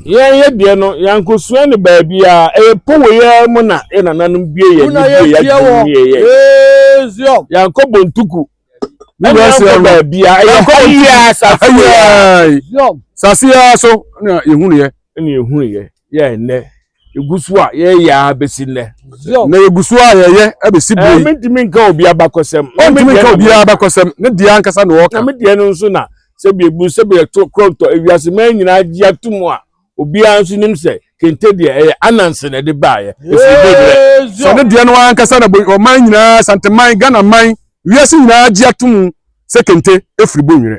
Yɛn yɛ deɛ no, yɛankosua no baabiara, ɛyɛ Powei ara mu na yɛn nananom bue yɛn ani bue yɛn adwene mu yɛ yɛn. Yɛankɔ Bontuku, ɛne yɛankɔ baabiara, ɛyɛ ha yi ara sase yi ara. Sase yi ara so na yɛhunuiɛ. Ɛne yɛhunuiɛ, yɛ ɛnnɛ. egu so a yɛyɛ a besi nnɛ. Na yegu so a yɛyɛ abesi bere yi. Mintumi nka obi abakɔsɛm. Ɔntumi nka obi abakɔsɛm. Ne deɛ ankasa na ɔka. Na me deɛ no nso na sɛ bi ebu sɛ bi ɛto korɔntɔ ewiase mmaa nyinaa gye atum a obiara nso nim sɛ kente deɛ ɛyɛ anansi na ɛde baayɛ. Esi bi brɛ. Sɛ ne deɛ no ankasa na ɔman nyinaa santeman Ghana man wiase nyinaa gye atum sɛ kente efiri bonwerɛ.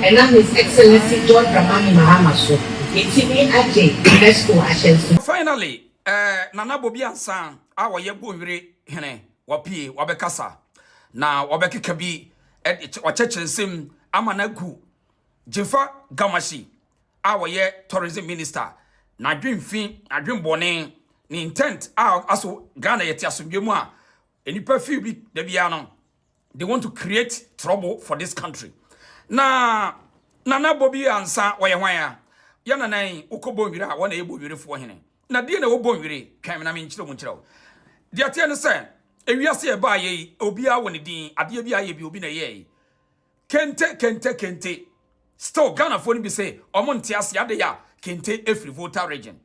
Ɛnam His Excellency John Dramani Mahama so, yɛatumi agye UNESCO ahyɛnsodeɛ. Finally, eh, Nana Bobi Ansah a ɔyɛ Bonwire hene, wapue, wabɛkasa, na wabɛkeka bi de kyɛ, wakyɛkyɛ nsɛm ama no agu Gyimfa Gamahyi a ɔyɛ Tourism Minister n'adwemfi, n'adwembɔne, ne intent a ɔka so Ghana yɛte asomdwoeɛ mu a nnipa few bi da biara no. they want to create trouble for this country na nana bobi ansa wɔyɛ hwan a yɛ nana yi wokɔ bɔnwiri a wɔn na yɛ bɔnwirifoɔ hene na deɛ na ɛwɔ bɔnwiri twɛn me na menkyerɛ mu nkyerɛ wo deɛ ateɛ ne sɛ ewiase ɛbaa yɛ yi obiara wɔ ne din adeɛ bi ayɛ bi obi na ɛyɛɛ yi Kente kente kente still Ghanafoɔ no bi se ɔmo nte ase adeyɛ a kente efiri Volta region.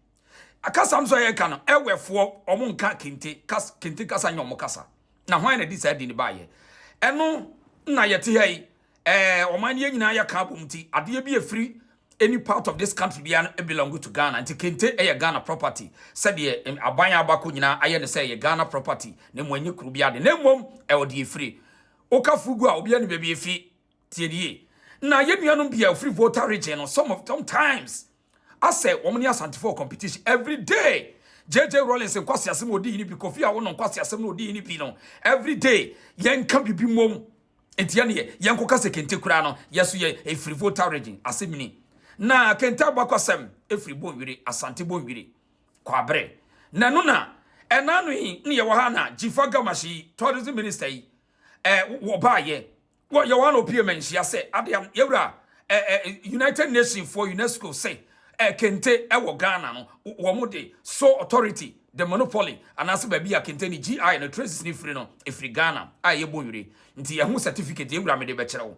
Akasa no so a yɛka no ɛwɛfoɔ ɔmo nka kente kas kente kasa nyɛ ɔmo kasa. Na hwan na ɛde saa din no baayɛ? Ɛno na yɛte ha yi ɛɛ ɔman no yɛn nyinaa yɛka abom nti adeɛ bi efiri any part of this country biara no belong to Ghana nti kente ɛyɛ Ghana property sɛdeɛ em, aban a aba kɔ nyinaa ayɛ no sɛ ɛyɛ Ghana property na mmom ɛnyɛ kuro biara de na mmom ɛwɔ deɛ efiri Woka Fugu a, obiara nim baabi efi. Tie no yie. Na yɛn nuanom bi a wɔfiri Volta Region no, some of them times asɛ wɔn ne Asantefo wɔ competition every day. JJ Rawlings nkwaseasɛm a ɔdi yi no bi, Kofi Awo no nkwaseasɛm na ɔdi yi no bi no, every day yɛnka biribi mmom. Nti ɛneɛ, yɛnkɔka sɛ Kente koraa no, yɛn nso yɛ, ɛfiri Volta Region, asɛm ni. Na Kente abakɔsɛm firi Bonwire, Asante Bonwire. Kwabre, nanu na ɛnaano yi ne yɛwɔ ha na Jifa Gamashi yi, tourism minister yi, eh, wɔbaayɛ. Wɔ yɛwɔ ha na opie ma nhyia sɛ adeɛ yɛwura eh, eh, United Nations foɔ UNESCO sɛ eh, kente ɛwɔ Ghana no, wɔn de sole authority, the monopoly, anaasɛ baabi a kente ne GI no traces ne firi no, efiri Ghana a ɛyɛ Bonwire. Nti ɛho certificate yɛwura mede bɛkyerɛ wo.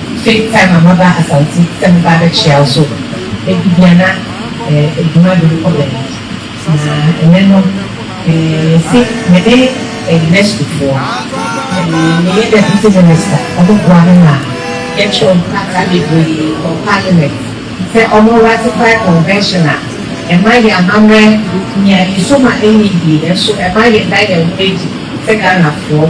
Take time a maba Asante sɛ meba abɛkyea wo so ebia na adwuma de wokɔ baabi na ɛnɛ no yɛse mene Ernestfoɔ meyɛ Deputy Minister ɔmo boa me ma yɛkyerɛw nkrataa bebree kɔ Parliament sɛ ɔmo ratify convention a ɛma yɛn amammerɛ nya nniso ma ɛnyɛ yie nanso ɛma yɛda yɛn ho adi sɛ Ghanafoɔ.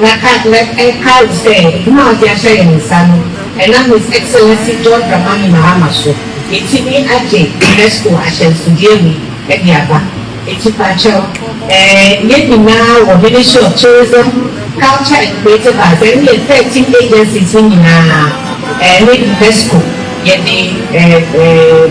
Na ka mɛ nkae wo sɛ adwuma a ɔde ahyɛ yɛn nsa no, ɛnam His Excellency John Dramani Mahama so, yɛtumi agye UNESCO ahyɛnsodeɛ wei de aba. Enti pakyɛw, ɛɛ, yɛn nyinaa wɔ Ministry of Tourism, Culture and Creative Arts, ɛne yɛn thirteen agencies no nyinaa, ɛɛ, ne UNESCO, yɛde, ɛɛ, ɛɛ,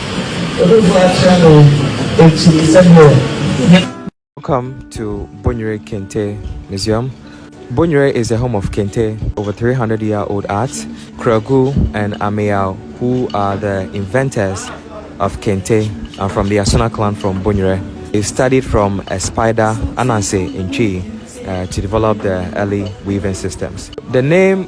Obebu akyerɛ no akyi sɛdeɛ ne. Welcome to Bonyere Kente Museum. Bonyere is the home of Kente, over three hundred year old art, Kragu and Ameyaw who are the inventors of Kente are from the Asona clan from Bonyere. They studied from a spider, Ananse Ntwi, to develop the early weaving systems. The name.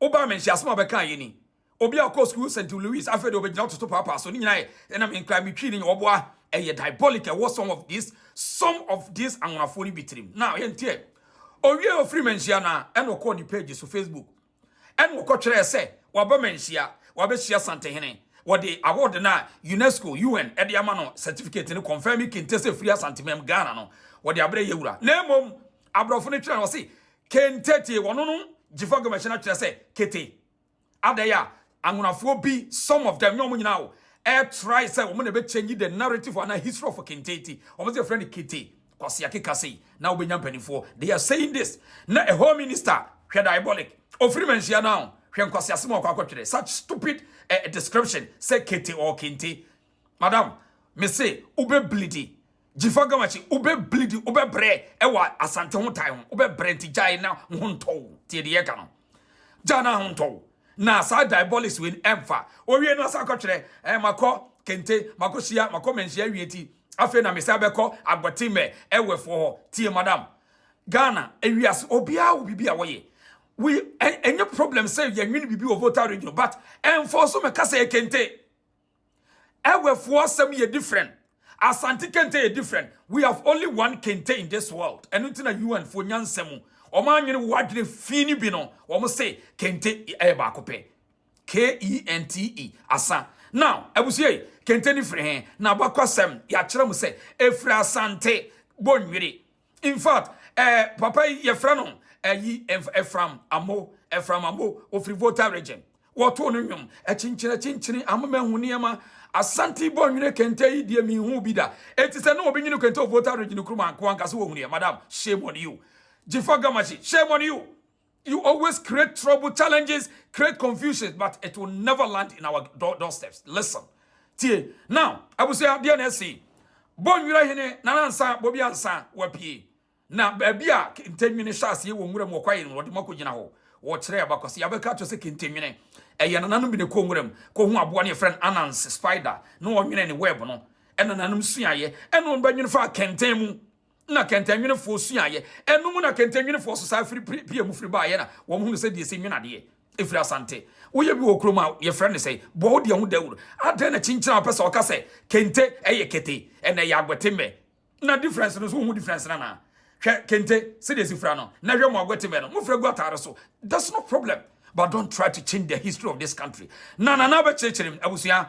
Wobaa me nhyiasem a ɔbɛkaa yɛ ni. Obi a ɔkɔɔ sukuu St Louis afei de ɔbɛgyina ɔtoto paapaa so ne nyinaa yɛ ɛna me nkra me twii ne nyɛ ɔboa ɛyɛ diabolic ɛwɔ some of this some of this anwonafoɔ no bi tirim na ɔyɛ nteɛ owie ɔfiri me nhyia na ɛna ɔkɔɔ ne page so Facebook ɛna ɔkɔ twerɛɛ sɛ waba me nhyia wabɛhyia Santehene wɔde award na UNESCO UN ɛde ama no certificate no confirming kente sɛ firi Asantemam Ghana no wɔde abrɛ yɛ wura na mmom aborɔfo no twerɛ na ɔse Kentete, wɔno no gyefo gɔmɛhyɛ no akyerɛ sɛ kete. Adɛn a anwonafoɔ bi, some of them, nyɛ wɔn nyinaa o, ɛretrae sɛ wɔn na ɛbɛ change the narrative or anaa history of Kentete. Wɔn sɛ yɛfrɛ no kete, Kwasi Akeka sei, na wobɛnya mpanimfoɔ. They are saying this. Na a whole minister, hwɛ diabolic, ɔfiri Manhyia no a o, hwɛ nkwaseasɛm a ɔkɔ akɔtwerɛ, such stupid eh, description sɛ kete or kente. Madam, me se wobɛbleedi Jifa Gamache, wobɛ bleed, wobɛ brɛ ɛwɔ Asante ho tae ho, wobɛ brɛ nti gyae na wo ho ntɔ wo, tie deɛ yɛka no, gyae na ho ntɔ wo, na saa diabolics wei no ɛmfa, owie no asa akɔtwerɛ eh, makɔ Kente, makɔ Hyia, makɔ Manhyia awie nti, afei na mesan bɛkɔ Agbotimɛ ɛwɛfoɔ hɔ, tie madam, Ghana, ewiase, obiara wɔ biribi a wɔyɛ, we, ɛnyɛ problem sɛ yɛnwene biribi wɔ voter region, but ɛmfɔɔ so mɛka sɛ ɛyɛ Kente, Ewefoɔ asɛm yɛ different, Asante kente yɛ different, we have only one kente in this world, ɛno nti na UN foɔ nyansa mu wɔn anwene wo adwene fii no bi no wɔn se kente ɛyɛ baako pɛ, K-E-N-T-E, Asa. Now, abusua yi, kente no firi he? N'abakɔsɛm, yɛakyerɛ mo sɛ, ɛfiri Asante Bonwire. In fact eh papa yi yɛfrɛ no ayi Ephraim Amo, Ephraim Amo, ɔfiri Volta region. Wɔtoo no nnwom, akyinkyini akyinkyini, amema hu nneɛma, Asante bɔ nwene kente yi deɛ menhuu bi da. Enti sɛ ne obi nwene kente wɔ Volta region kurom a anka wankasa wɔhunuiɛ, madam shame on you. Jifa Gamashi shame on you. You always create trouble, challenges, create confusions, but it will never land in our door, doorsteps. Listen. Tie. Now, abusua deɛ na ɛsi. Bɔ nwira hene na nansa bobi ansa wapie. Na baabi a kentenwene hyɛ aseɛ wɔ nwura mu ɔkwae no wɔde mu akɔgyina hɔ. Wɔkyerɛ abakɔse yɛabɛka akyerɛ sɛ kentenwene ɛyɛ nananom bi na ɛkɔ nwura mu kɔhu aboa ne yɛfrɛ no ananse spider na wɔnwene ne web no ɛna nananom suaeɛ ɛna wɔbɛnwene faa kɛntɛn mu na kɛntɛnwenefɔɔ suaeɛ, ɛno mu na kɛntɛnwenefɔɔ so saa firi pia mu firi baeɛ na wɔn hunu sɛdeɛ yɛsi nwene adeɛ ɛfiri Asante, woyɛ bi wɔ kurom a yɛfrɛ no sɛn? Boa wo deɛ ho dawuro, adɛn na kyinkyin a wopɛ sɛ ɔka sɛ kente ɛyɛ kete ɛna ɛyɛ aguɛtemmɛ na difference no so wohu difference no anaa? Hwɛ kente sɛdeɛ ɛsi fira no na hwɛ mo aguɛtemmɛ no mofira gu atare so that's no problem but don't try to change the history of this country na nana bɛkyerɛkyerɛ mu abusua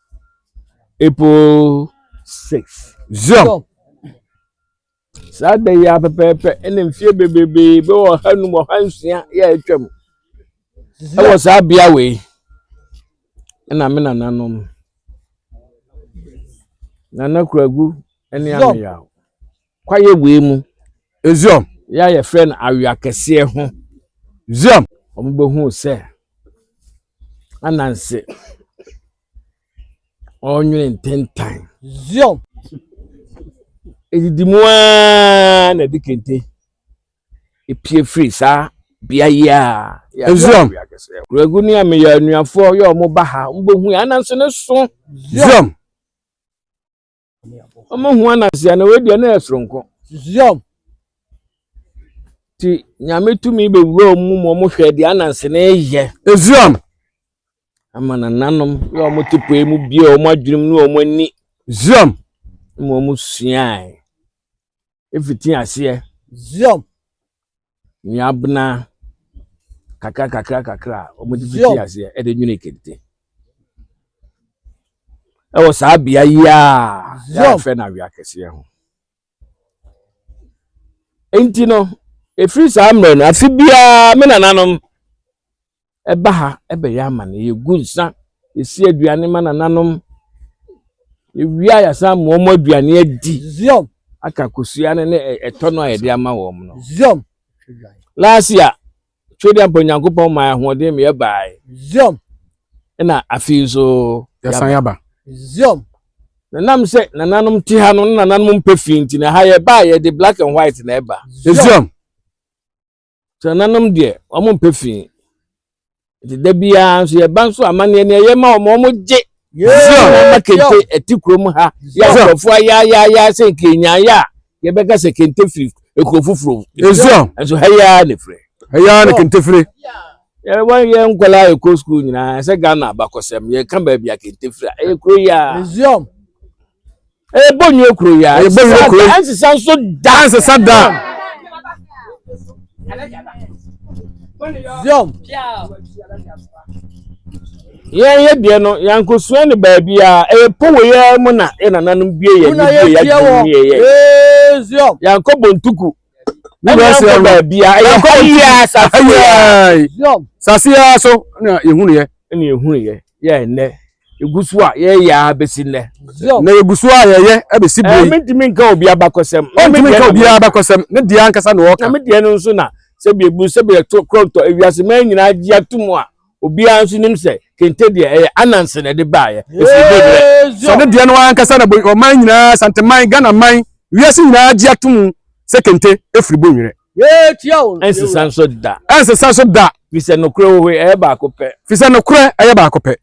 April 6. Zion. Saa da yi ara pɛpɛɛpɛ ɛna mfie bebrebe bɛ wɔ ha num wɔ ha nsia yɛ atwa mu. Ɛwɔ saa bea wei ɛna me nananom. Nana Kuragu ɛne Ameyaw. Kwaeɛ wei mu. Zion. Yɛ a yɛfrɛ no awea kɛseɛ ho. Zion. Wɔbɛhuu sɛ ananse ɔnwene ntentan. Zion. Ɛdidi mu ara na ɛde kente ɛpie firi saa bea yi a yɛfrɛ awea kɛseɛ ho. Kuragu ne ameyɛ anuafoɔ yɛ wɔn ba ha. Wɔbɛhuu ananse no so. Zion. ɔmo hu anasia na wei deɛ na yɛ soronko susuam ti nyame tumi bɛwura ɔmo mu ɔmo hwɛ deɛ ananse na ɛyɛ ezuam ama nananom ne ɔmo te pɔi mu bie ɔmo adwenem ne ɔmo ani zuam ma ɔmo suae fiti aseɛ. Zion. Nuabena kakra kakra kakra a wɔde fiti aseɛ ɛde nwene kente. Ɛwɔ saa bea yi a yɛafɛ no awea kɛseɛ ho. Enti no, ɛfiri saa mmerɛ no, afe biara me nananom ɛba ha bɛyɛ amanneɛ. Yɛgu nsa, yɛsi aduane ma nananom. Yɛwie a, yɛasan ama wɔn aduane adi. Zion. Aka kosua no ne ɛtɔ no a yɛde ama wɔn no. Zion. Lasia, Twediampa mpa Onyankopɔn maa ahoɔden ma yɛbaeɛ. Zion. Ɛna afei nso yɛsan yɛaba. Zion. Nanam sɛ nananom te ha no na nananom mpɛ fii nti na ha yɛba a yɛde black and white na ɛba. Zion. Tenanom deɛ, wɔn mpɛ fi. Nti da biara nso yɛba nso amanneɛ ne ɛyɛ ma wɔn, wɔn gye. Zion ama kente ɛte kurom ha. Yɛ nkurɔfoɔ ayaayaaya sɛ nkenyaayɛ a yɛbɛka sɛ kente firi ekuro foforɔ. Zion. Nso ha yi ara na efiri. Ha yi ara na kente firi. Yɛwɔ yɛ nkwadaa a ɛkɔ sukuu nyinaa sɛ Ghana abakɔsɛm yɛka baabi a kente firi a ɛyɛ kuro yi ara. Zion. Ɛyɛ Bonnue kuro yi a. Ɛyɛ Bonnue kuro yi. Ɛnsesa nso da. Ɛnsesa da. Zion. Yɛn yɛ deɛ no yankosua ne baabi a ɛyɛ powo yɛ mu na yɛ nananom bie yɛ ne bie yɛ adwuma mu yɛ yɛ. Zion. Yankɔ bontuku ɛnna baabi a ɛyɛ hɔ yia asase yia asase yia so na yɛhunu yɛ ɛna yɛhunu yɛ yɛ ɛnɛ egu so a yɛyɛ a bɛsi nnɛ na egu so a yɛyɛ ɛbɛsi bere yi ɛmɛntumi nka obi abakɔsɛm ɛmɛntumi nka obi abakɔsɛm ne deɛ ankasa na ɔka na me deɛ no nso na sɛbi ebu sɛbi ɛto kɔntɔ ewiase mɛn nyinaa gye atum a. obiara nso nim sɛ kente deɛ ɛyɛ ananse na ɛde baeɛ ɛsi bebrɛ sɛ ɔde deɛ no ankasa na ɔman nyinaa santeman ghana man wiase nyinaa agye atom sɛ kente ɛfiri bonwerɛ ɛnsesa nso da ɛnsesa nso da fisɛ nokorɛ wɔ hɔ ɛyɛ baako pɛ fisɛ nokorɛ ɛyɛ baako pɛ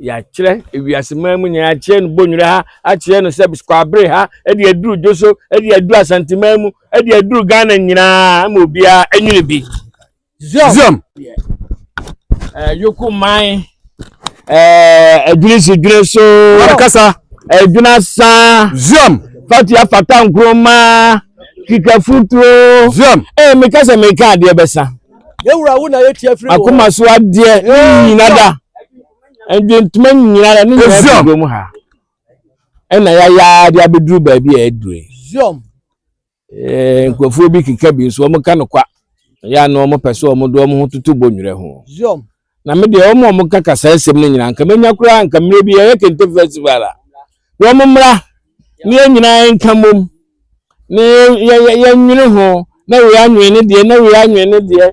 yɛakyerɛ ewiase man mu nyinaa akyerɛ no bonyere ha akyerɛ no sɛ kwabere ha ɛde aduru dwo so ɛde aduru asanteman mu ɛde aduru ghana nyinaa ma obiara ɛnyini bi ziom ɛɛ yoko man ɛɛ adwiri si dwiri so ɔrekasa adwina saa ziom fatia fata nkuruma kika futuo ziom ɛɛ meka sɛ meka adeɛ bɛsa. akoma so adeɛ ne nyina da ndwentoma nyina da ne nyina firi dwom ha ɛna yɛayaa de abɛduru baabi a ɛduru yi nkurɔfoɔ bi keka bi nso wɔn ka no kwa yɛ ano wɔn pɛ so wɔn de wɔn ho toto bɔ nwura ho na me deɛ wɔn a wɔka kasa asɛm no nyinaa nka menya koraa nka mmerɛ bi yɛyɛ kente festival a wɔn mmra ne yɛn nyinaa nka mmom ne yɛnwene ho na wei anwene ne deɛ na wei anwene ne deɛ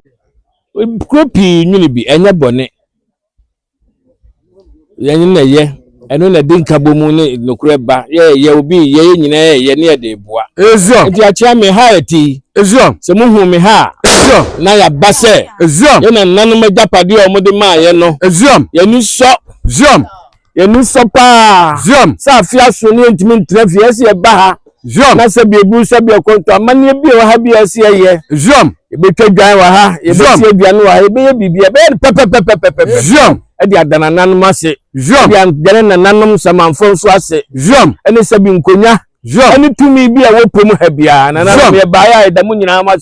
kuro pii nwene bi ɛnyɛ bɔne Yɛn na ɛyɛ, ɛno na ɛde nkabɔmu ne nokorɛ ba, yɛyɛ obi, yɛyɛ nyinaa yɛyɛ ne yɛde reboa. Ezion. Enti akyea me ha a ɛte yi, Ezion. sɛ mohuu me ha a, Ezion. na yɛaba sɛ Ezion. yɛn nananom agyapadeɛ a wɔde maa yɛn no, Ezion. yɛn ani sɔ, Zion. yɛn ani sɔ paa Zion. sɛ afe aso no yɛntumi ntra fie, ɛsɛ sɛ yɛba ha Zion. Na sɛ biebu sɛ biakɔnto amanneɛ bi a ɛwɔ ha bi a ɛsɛ yɛyɛ. Zion. Yɛbɛtwa dwan wɔ ha. Yɛbɛsi aduane wɔ ha. Yɛbɛyɛ biribi a ɛbɛyɛ no pɛpɛpɛpɛpɛpɛ. Zion. Ɛde ada nananom ase. Zion. Ɛde adane nananom samanfoɔ nso ase. Zion. Ɛne sɛbi nkonya. Zion. Ɛne tumi bi a wɔpɛ mu ha biara. Nananom yɛbaeɛ a ɛda mu nyinaa mo ase.